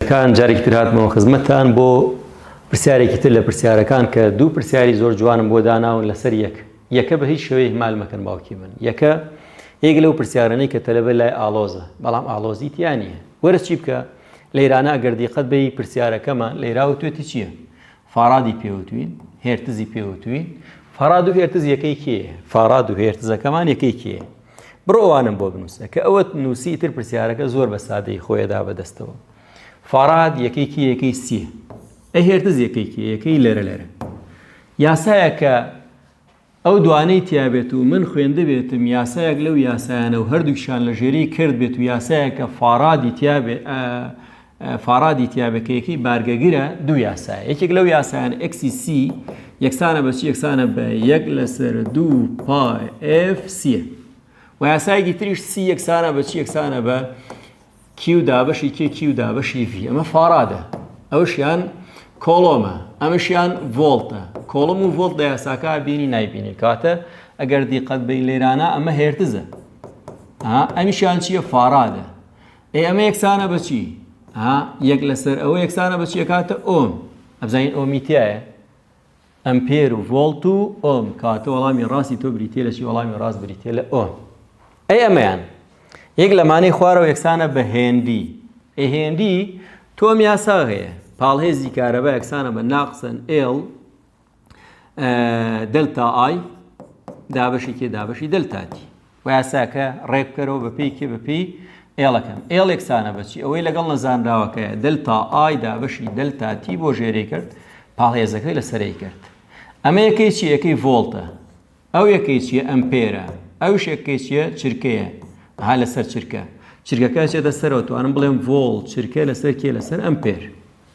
کان جارێکی تر هاتمەوە خزمەتتان بۆ پرسیارێکی تر لە پرسیارەکان کە دوو پرسیاری زۆر جوانم بۆ داناون لەسەر یەک یەکە بە هیچ شێوەیە مال مەکەن باوکی من یەکە یەک لەو پرسیارانەی کە تەلەبە لای ئالۆزە بەڵام ئالۆزی تیا نییە وەرە چی بکە لەیرانە ئەگەر دیقەت بی پرسیارەکەمە لەیراوە توێتی چییە فارادی پێ وتوین هێرتزی پێ وتوین فاراد و هێرتز یەکەی کێ فاراد و هێرتزەکەمان یەکەی کێ بڕۆ ئەوانم بۆ بنووسە کە ئەوەت نووسی تر پرسیارەکە زۆر بە سادەی خۆیدا بەدەستەوە فاراد یەکەی کێ یەکەی سیە ئە هێرتز یەکەی کێ یەکەی لەرە لەرە یاسایە کە ئەو دوانەی تیابێت و من خوێندبێتم یاسایەک لەو یاسایانە و هەردووکیشان لە ژێری کرد بێت و یاسایەکە فارادی تیابێت فارادی تیابێت کە یەکەی بارگەگرە دوو یاسایە یەکێک لەو یاسایان ئەکسی سی یەکسانە بەچی یەکسانە بە یەک لەسەر دوو پای ئف سیە و یاسایەکی تریش سی یەکسانە بەچی یەکسانە بە کیو دابەشی کێ کیو دابەشی ڤی ئەمە فارادە ئەوشیان کۆڵۆمە ئەمەشیان ڤۆڵتە کۆڵم و ڤۆڵت لە یاساکە بینی نایبینی کاتە ئەگەر دیقەت بین لێرانە ئەمە هێرتزە ئەمیشیان چییە فارادە ئێ ئەمە یەکسانە بەچی یەک لەسەر ئەوە یەکسانە بەچیەکاتە ئۆم ئەبزانین ئۆمیتایە ئەمپێر و ڤۆڵت و ئۆم کەواتە وەڵامی ڕاستی تۆ بریتیە لە چی وەڵامی ڕاست بریتیە لە ئۆم ئەی ئەمەیان یەک لەمانەی خوارەوە یەکسانە بە هێندی ئەی هێندی تۆم یاسا هەیە پاڵهێزی کارەبا یەکسانە بە ناقسن ئێڵ دلتا ئای دابشی کێ دابشی دلتاتی و یاساکە ڕێک بکەرەوە بە پێی کێ بە پێی ئێڵەکەم ئێڵ یەکسانە بەچی ئەوەی لەگەڵ نەزانراوەکەیە دلتا ئای دابەشی دلتا تی بۆ ژێرەی کرد پاڵێزەکەی لەسەرەی کرد ئەمە یەکەی چی یەکەی ڤۆڵتە ئەو یەکەی چیە ئەمپێرە ئەو شێکەکەی چیە چرکەیە ها لەسەر چرکە چرکەکە چێتە سەرەوە توانم بڵێم ڤۆڵ چرکە لەسەر کێ لەسەر ئەمپێر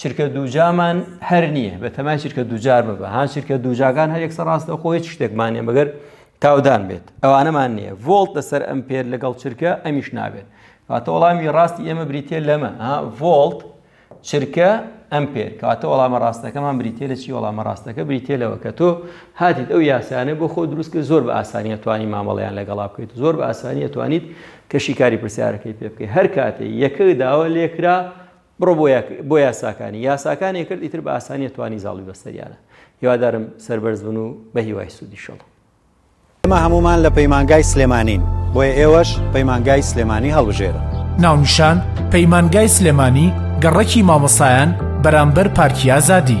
چرکە دووجامان هەر نییە بە تەمای چرکە دووجار ببە هاان چرکە دووجاکان هەر یەکسە ڕاستە خۆ هیچ شتێکمانێ بەگەر تاودان بێت ئەوانەمان نییە ڤۆلت لەسەر ئەم پێر لەگەڵ چرکە ئەمیش نابێت کاتە وەڵامی ڕاستی ئێمە بریتە لەمە ڤۆلت چرکە ئەم پێر کاتە وەڵامە ڕاستەکەمان بریتە لە چی وەڵامە ڕاستەکە بریتە لەوە کە تۆ هاتیت ئەو یاسانە بۆ خۆ دروست کرد زۆر بە ئاسانیە توانی مامەڵیان لەگەڵا بکەیت زۆر بە ئاسانیە توانیت کەشی کاری پرسیارەکەی پێ بکەیت هەر کاتێ یەکە داوە لێکرا بڕۆ بۆ یاساکانی یاساکانی کرد ئیتر بە ئاسانیە توانی زاڵی بەستەریانە هیوادارم سەربەرز بن و بە هیوای سوودی شڵ ئێمە هەمومان لە پەیمانگای سلێمانین بۆیە ئێوەش پەیمانگای سلێمانی هەڵبژێرە ناونیشان پەیمانگای سلێمانی گەڕەکی مامۆسایان بەرامبەر پارکی ئازادی.